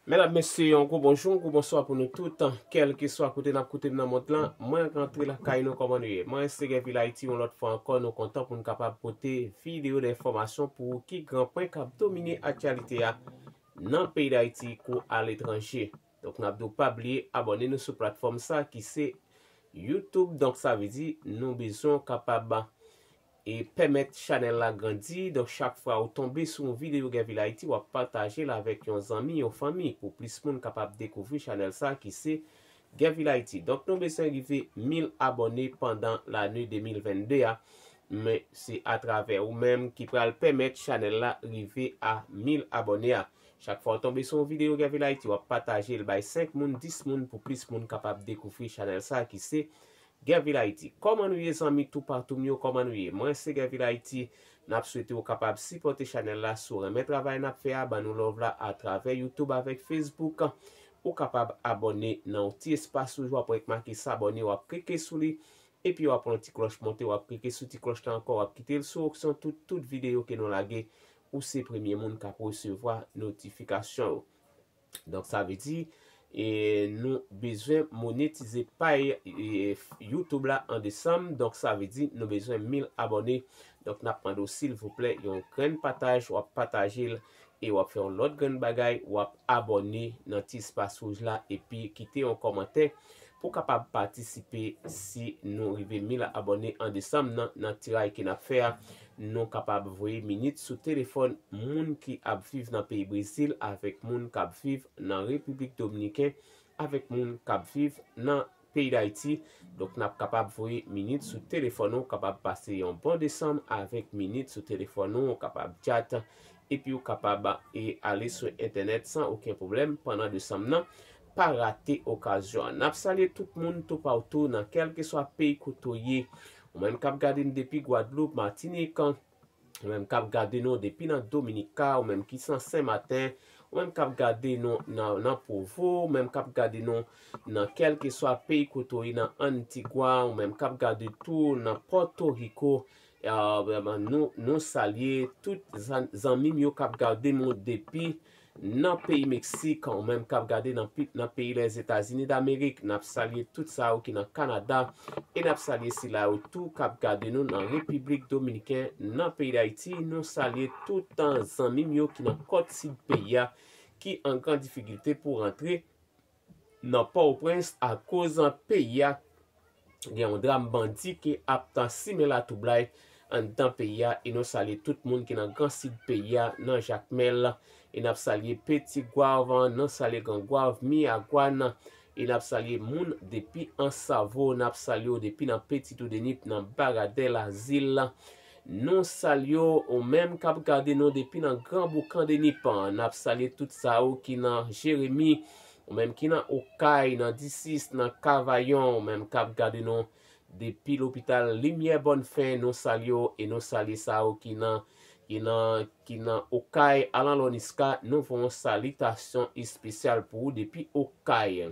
Medam mesye yon gwo bonjou, yon gwo bonswa pou nou tout, kèlkeswa kote nap koute m nan mond lan, mwen rantre lakay nou kòman nou ye? Mwen Ensteger vil Ayiti yon lòt fwa ankò nou kontan pou nou kapab pote videyo de enfòmasyon pou ou ki gran pwen kap domine aktyalite a nan peyi Dayiti kou aletranje. Donk nap di w pa bliye abòne nou sou platfòm sa ki se youtube donk sa vle di nou bezwen w kapab E pèmèt chanèl la grandi, donk chak fwa ou tonbe sou yon videyo Guervil Haïti wap patajel avèk yon zanmi, yon fanmi pou plis moun kapab dekouvri chanèl sa ki se Guervil Haïti. Donk nou beswen rive 1000 abòne pandan lane 2022 a, men se atravè ou menm ki pral pèmèt chanèl la rive a 1000 abòne a. Chak fwa ou tonbe sou yon videyo Guervil Haïti wap patajel bay 5 moun, 10 moun pou plis moun kapab dekouvri chanèl sa ki se Guervil Haiti Kòman nou ye zanmi tou patou m yo kòman nou ye mwen se Guervil Haiti nap swete ou kapab sipòte chanèl la si w renmen travay nap fè a ban nou love la a travè YouTube avèk Facebook ou kapab abòne nan yon ti espas toujou wap wè ki make sabòne wap klike sou li epi wap wè yon ti klòch monte wap klike sou ti klòch la ankò wap kite l sou opsyon tout tout videyo ke nou lage ou se premye moun kap resevwa notifikasyon yo. Donk sa vle di nou bezwen monetize pay YouTube la an desanm. Donk sa vle di nou bezwen 1000 abòne. Donk nap mande w silvouplè yon grenn pataj wap pataje l. E wap fè yon lòt grenn bagay wap abòne nan ti espas wouj la. Epi kite yon kòmantè pou w kapab patisipe si nou rive 1000 abòne an desanm nan. Nan tiraj ke nap fè a Nou kapab voye minit sou telefòn moun ki ap viv nan peyi Brezil avèk moun k ap viv nan Repiblik Dominiken, avèk moun k ap viv nan peyi Dayiti. Donk n ap kapab voye minit sou telefòn ou kapab pase yon bon desanm avèk minit sou telefòn ou, ou kapab tchat epi ou kapab e ale sou entènèt san oken pwoblèm pandan desanm nan. Pa rate okazyon an. N ap salye tout moun toupawtou nan kèlkeswa peyi kote w ye. Ou menm kap gade m depi Guadeloupe, Martinique, ou menm kap gade nou depi nan Dominica, ou menm ki san Sen Maten, ou menm kap gade nou nan Provo, ou menm kap gade nou nan kelkeswa peyi kote ou ye nan Antigua, ou menm kap gade tou nan Porto Rico, nou salye tout zanmim yo kap gade m depi Nan peyi Meksik kanmenm kap gade nan pit nan peyi Lèzetazini Damerik nap salye tout sa yo ki nan Kanada e nap salye sila yo tou kap gade nou nan Repiblik Dominiken nan peyi Dayiti nou salye tout zanmim yo ki nan kòt sid peyi a ki an gran difigilte pou rantre nan pòoprens akoz peyi a gen yon dram bandi ki ap ta simen latwoublay anndan peyi a e nou salye tout moun ki nan gran sid peyi a nan jakmèl e nap salye peti gwav nou salye gran gwav miyagwann e nap salye moun depi ansavo nap salye w depi nan peti toudenip nan baradè lazil Nou salyew ou menm kap gade nou depi nan gran boukan denipan nap salye tout sa yo ki nan jeremi ou menm ki nan okay nan disis nan kavayon ou menm kap gade nou depi lopital limyè bòn fen nou salye w e nou salye sa yo ki nan ki nan ki nan okay alan lòniska nou voyon salitasyon espesyal pou ou depi okay.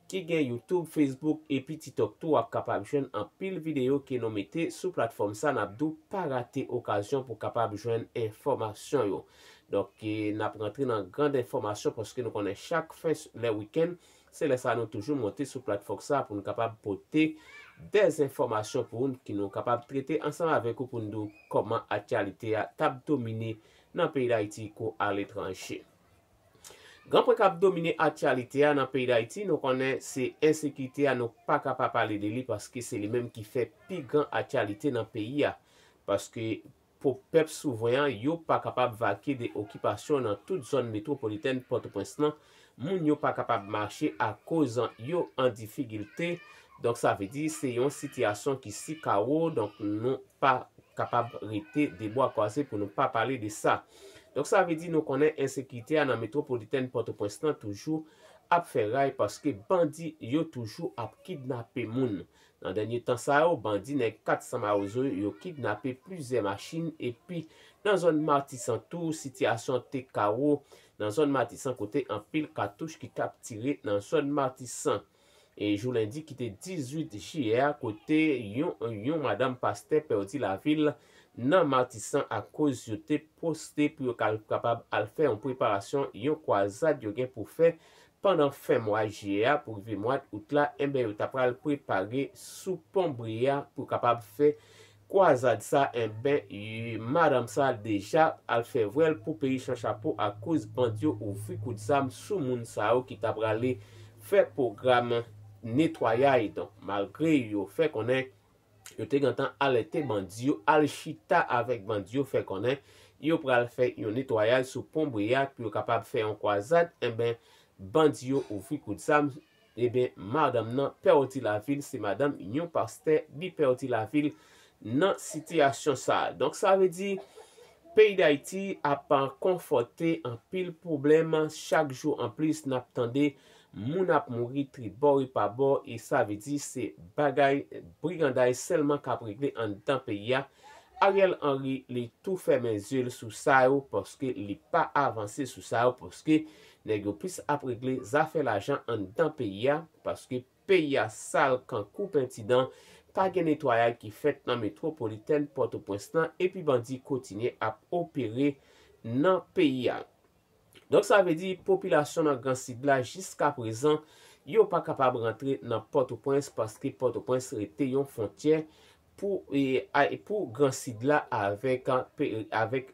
ki gen youtube, facebook epi titok tou wap kapab jwenn anpil video ke nou mete sou platfòm sa nap diw pa rate okazyon pou kapab jwenn enfòmasyon yo donk nap rantre nan grand enfòmasyon paske nou konnen chak fen lè weekend se lè sa nou toujou monte sou platfòk sa poun kapab pote des enfòmasyon pou ou ki nou kapab trete ansanm avèk ou poun diw kòman akyalite a tap domine nan peyi dayiti kou aletranje. Gran pwen kap domine aktyalite a nan peyi Dayiti nou konnen se ensekite a nou paka pa pale de li paske se li menm ki fè pi gran aktyalite nan peyi a paske po pèp souvren an yo pa kapab vake de okipasyon nan tout zòn metwopolitèn pòtoprens lan moun yo pa kapab mache akoz yo an difigilte donk sa vle di se yon sitiyasyon ki si kawo donk nou pa kapab rete de bwa kwaze pou nou pa pale de sa. Donk sa vle di nou konnen ensekirite a nan metwopolitèn Pòtoprens lan toujou ap fè ray paske bandi yo toujou ap kidnape moun. Nan dènye tan sa yo, bandi nèg 400 mawozo yo kidnape plizyè machin epi nan zòn Matisan tou sitiyasyon an te kawo nan zòn Matisan kote anpil katouch ki t ap tire nan zòn Matisan. e jou lendi ki te 18 jiyè a kote yon yon madam pastè pèdi lavi l nan Matisan akoz yo te poste pou yo kapab al fè yon preparasyon yon kwazad yo gen pou fè pandan fen mwa jiyè a pou rive mwad out la enben yo ta pral prepare sou pon Brea pou kapab fè Kwazad sa enben ui madanm sa deja al fè vwèl pou peyi chan chapo akoz bandi yo ouvri kout zam sou moun sa yo ki ta prale fè pwogram netwayay donk malgre yo fè konnen yo te gentan alète bandi yo al chita avèk bandi yo fè konnen yo pral fè yon netwayay sou pon Breyat pou yo kapab fè yon kwazad enben bandi yo ouvri kout zam Ebyen madanm nan pèwti lavil se madanm yon pastè li pèwti lavil nan sitiyasyon sa donk sa vle di peyi dayiti ap konfòte anpil pwoblèm chak jou anplis nap tande moun ap mouri tribò e pa bò e sa vle di se bagay briganday sèlman kap regle anndan peyi a Ariel Henry li tou fèmen zye l sou sa yo paske li pa avanse sou sa yo paske Nèg yo plis ap regle zafè lajan anndan peyi a paske peyi a sal kan kou penti dan, pa gen netwayay ki fèt nan metwopolitèn Pòtopwens lan epi bandi kotinye ap opere nan peyi a. Donk sa vle di popilasyon nan gran sid la jiskaprezan yo pa kapab rantre nan Pòtopwens paske Pòtopwens rete yon fontyè pou pou gran sid la avèk avèk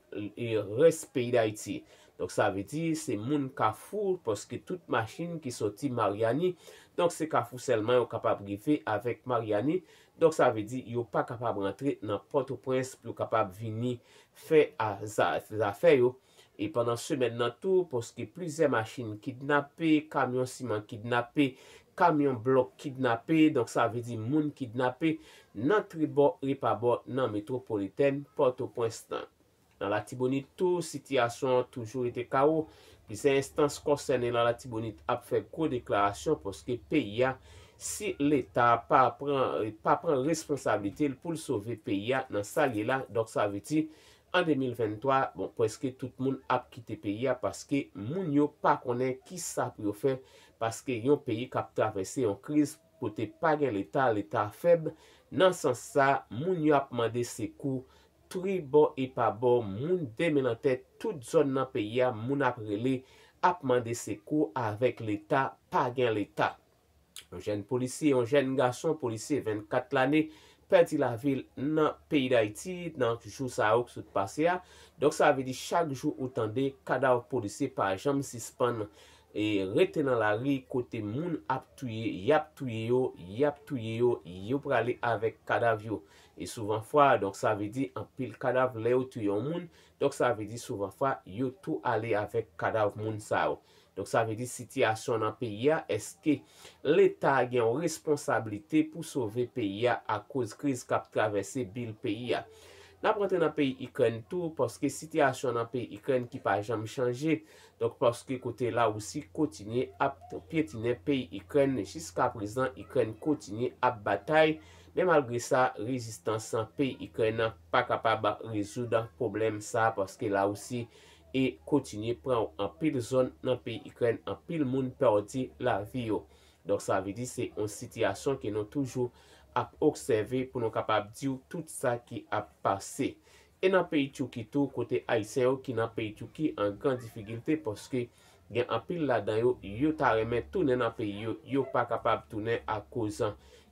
rès peyi dayiti donk sa vle di se moun kafou paske tout machin ki sòti maryani donk se kafou sèlman yo kapab rive avèk maryani donk sa vle di yo pa kapab rantre nan pòtoprens pou yo kapab vini fè zafè yo. E pandan semèn nan tou, pske plizyè machin kidnape, kamyon siman kidnape, kamyon blòk kidnape, donk sa vle di moun kidnape nan tribò repabò nan metwopolitèn Pòtoprens lan. Nan Latibonit tou, sitiyasyon an toujou rete kawo, plizyè enstans konsène nan Latibonit ap fè gwo deklarasyon pske peyi a, si leta pa pran pa pran responsablite l pou l sove peyi a nan sa l ye la, donk sa vle di An 2023, bon preske tout moun ap kite peyi a paske moun yo pa konnen kisa pou yo fè paske yon peyi kap travèse yon kriz kote pa gen leta, leta fèb, nan sans sa moun yo ap mande sekou tri bò e pa bò moun de men nan tèt tout zòn nan peyi a moun ap rele ap mande sekou avèk leta pa gen leta. Yon jèn polisye, yon jèn gason polisye 24 lane pèdi lavi l nan peyi Dayiti nan jou sa yo ki sot pase a. Donk sa vle di chak jou ou tande kadav polisye pa janm sispann rete nan lari kote moun ap touye, y ap touye yo, y ap touye yo, yo prale avèk kadav yo. E souvan fwa, donk sa vle di anpil kadav lè yo touye yon moun, donk sa vle di souvan fwa yo tou ale avèk kadav moun sa yo. Donk sa vle di sitiyasyon nan peyi a eske leta gen yon responsablite pou sove peyi a akoz kriz kap travèse bil peyi a. Nap rantre nan peyi ikrèn tou paske sitiyasyon nan peyi ikrèn ki pa janm chanje donk paske kote lawousi kotinye ap pyetinen peyi ikrèn jiska prezan ikrèn kotinye ap batay men malgre sa rezistans peyi ikrèn pa kapab rezoud pwoblèm sa paske lawousi e kotinye pran anpil zòn nan peyi Ikrèn anpil moun pèdi lavi yo. Donk sa vle di se yon sitiyasyon ke nou toujou ap obsève pou nou kapab diw tout sa ki ap pase. E nan peyi Turquie tou kote ayisyen yo ki nan peyi Turquie an gran difigilte paske Gen anpil ladan yo, yo ta renmen tounen nan peyi yo, yo pa kapab tounen akoz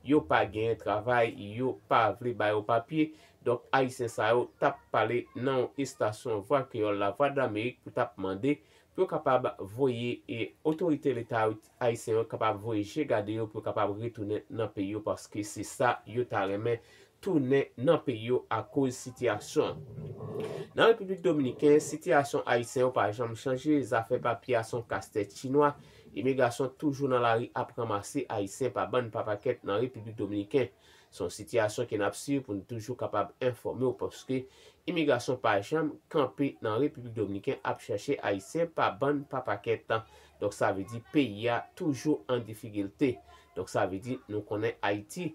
yo pa genyen travay, yo pa vle ba yo papye. Donk Ayisyen sa yo t ap pale nan yon estasyon Vwa Kreyòl Lavwadlamerik pou t ap mande pou yo kapab voye e otorite leta ayisyen yo kapab voye je gade yo pou yo kapab retounen nan peyi yo paske se sa yo ta renmen tounen nan peyi yo akoz sitiyasyon an. Nan Repiblik Dominiken, sitiyasyon Ayisyen yo pa janm chanje, zafè papye a son kastèt chinwa, imigrasyon toujou nan lari ap ranmase Ayisyen pa bann pa pakèt nan Repiblik Dominiken. Son sitiyasyon ke nap swiv pou n toujou kapab enfòme w paske imigrasyon pa janm kanpe nan Repiblik Dominiken ap chache Ayisyen pa bann pa pakèt. Donk sa vle di peyi a toujou an difikilte. Donk sa vle di nou konnen Ayiti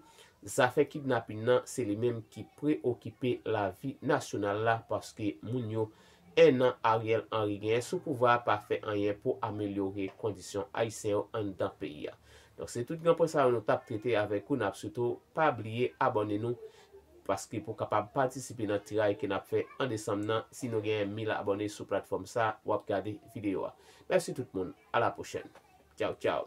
Zafè kidnapin nan se li menm ki preokipe lavi nasyonal la paske moun yo 1 an Ariel Henry genyen sou pouvwa a pa fè anyen pou amelyore kondisyon ayisyen yo anndan peyi a. Donk se tout gran pwen sa yo nou tap trete avèk ou nap sitou pa bliye abòne nou paske pou kapab patisipe nan tiray ke nap fè an desanm nan si nou genyen 1000 abòne sou platfòm sa wap gade videyo a. Mèsi tout moun a la pwochèn. Tchaw tchaw.